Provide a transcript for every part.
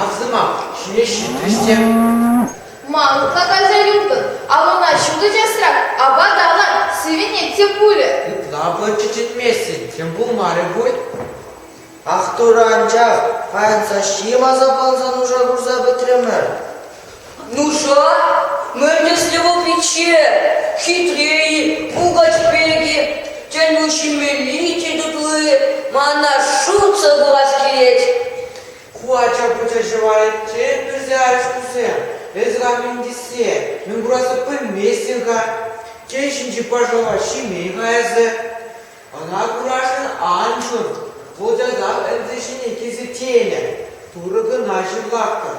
Ав сӑмах, ҫӳле ҫитрӗҫ те. Ма ытлаканса юлтӑн? Алӑна ҫутӑ часрах, апат алан, сивӗнет те пулӗ. Ытла пулчӗ чӗтместӗн, тем пулмарӗ пуль. Ах, Турӑ, анчах паян саҫҫи ласа палса нуша хурса пӗтрӗмӗр. Нуша мӗнтӗслӗ вӑхӑтче хитре пукать пирки тӗлму ҫимелли тетӗпле мана шутсӑр курас килет. Ку ача пӑча ҫӑварӗнчен пӗрсе арӑш кусем. Эсӗ хан мӗн тисе, мӗн кураса пӗлместӗн-ха? Тен ҫинчи пашала ҫимей-ха эсӗ? Ӑна курашӑн ан ҫун, вӑл часах ӗнсе ҫине килсе тенӗ. Турӑ кӑна ҫырлахтӑр.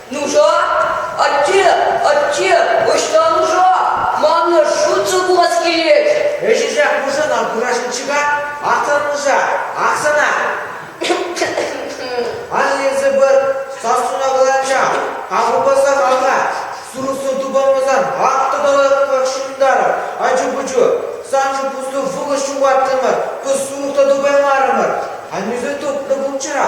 Нуша, атте, атте, ӑҫта нуша? Манна шутсӑр пулас килет. Ӗҫӗсех пушӑн ал курашнӑччӗ-ха. Ахтӑр нуша, ах сана. Ан ерсе пар, сассуна каланча. Аврупасах алла. Сурӑхсӑр тупанмасан ак тӑтӑлаттах ҫунтарӑр. Ачу-пӑчу, саншӑн пуслу вӑхӑт ҫухаттӑмӑр, кӑс сурӑх та тупаймарӑмӑр. Аннӳсӗр тупнӑ пулччӑра.